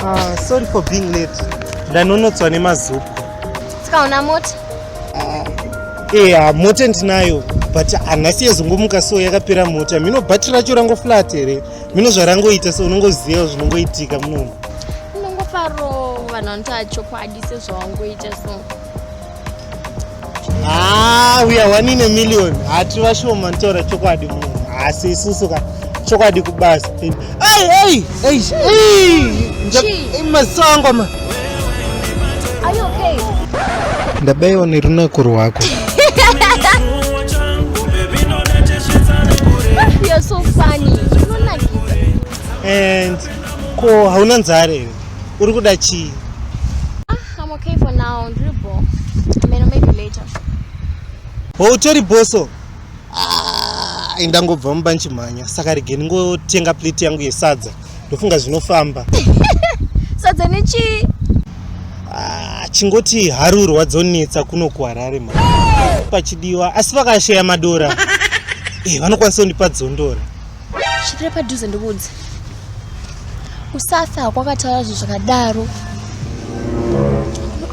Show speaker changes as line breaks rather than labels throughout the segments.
Ah, sorry for being late. Ndanonotswa nemazupu. Tikaona
mota. Eh, yeah,
mota ndinayo but hanasi yezongomuka so yakapera mota mino bhati racho rangoflat here mino zvarangoita so unongoziva zvinongoitika munomu inongofaro
vanhu vanotaa chokwadi sezvawangoita so
Ah, we are one in a million. Hati vashoma ntora chokwadi munhu. Asi isusu ka chokwadi kubasa. Hey, hey, hey, hey. Masongo ma.
Are you okay? Ndabeyo
ni runako rwako.
You're so funny.
And ko hauna nzare uri kuda chii?
I'm okay for now. Ndiri bo. I mean, maybe later.
Oh, utori boso. Ah, ndangobva mumba ndichimhanya. Saka rege ndingotenga plate yangu yesadza. Ndofunga zvinofamba.
Sadza nechi? Ah, chingoti
harurwa dzonetsa kuno kuHarare ma. Pachidiwa asi vakasheya madora. Eh, vanokwanisa kundipa dzondora. svikira
padhuze ndikuudze usafe hakwakataura zvinhu zvakadaro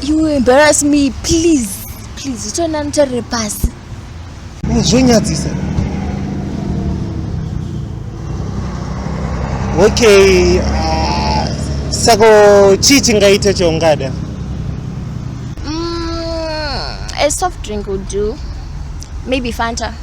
you embarrass me please please utoenda notarire pasi
zvonyadzisa okay ah, sako chii chingaita chaungada mm,
a soft drink would do maybe fanta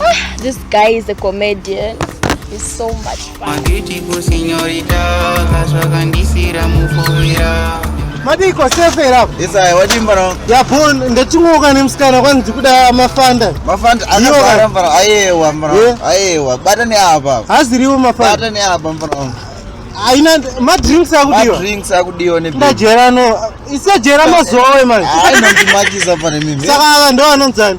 Ah, this guy is a comedian. He's so much fun.
madiko sefer apo isaya wadimba no
yapon
ndachingoka nemusikana kwanzi ndikuda mafanda mafanda anogara
mbara ayewa mbara eh? ayewa bata neapa haziriwo mafanda bata
neapa mbara
haina
madrinks akudiwa madrinks akudiwa ne
ndajera no
isajera mazowe manje haina ndimakisa
pane mimi saka ava ndo anonzani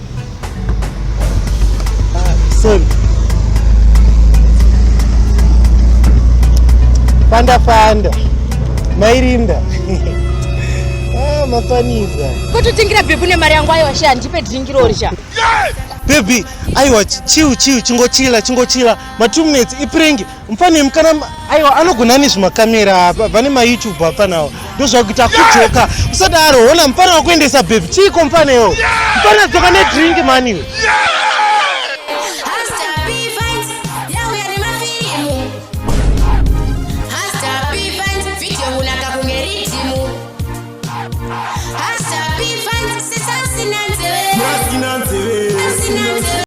Save. Fanda fanda. Mairinda. ah, mafaniza. Kototengira bhebu
nemari yangu ayo washe handipe drink rori cha. Baby,
aiwa chill chill chingochila chingochila. Ma 2 minutes iprengi. mfana mkana aiwa anogona nezve makamera apa vane mayoutube apanawo ndozvakuita akujoka usadaro hona mfana wakuendesa bebi chiiko mfana iwo mfana dzoka nedrink mani iwe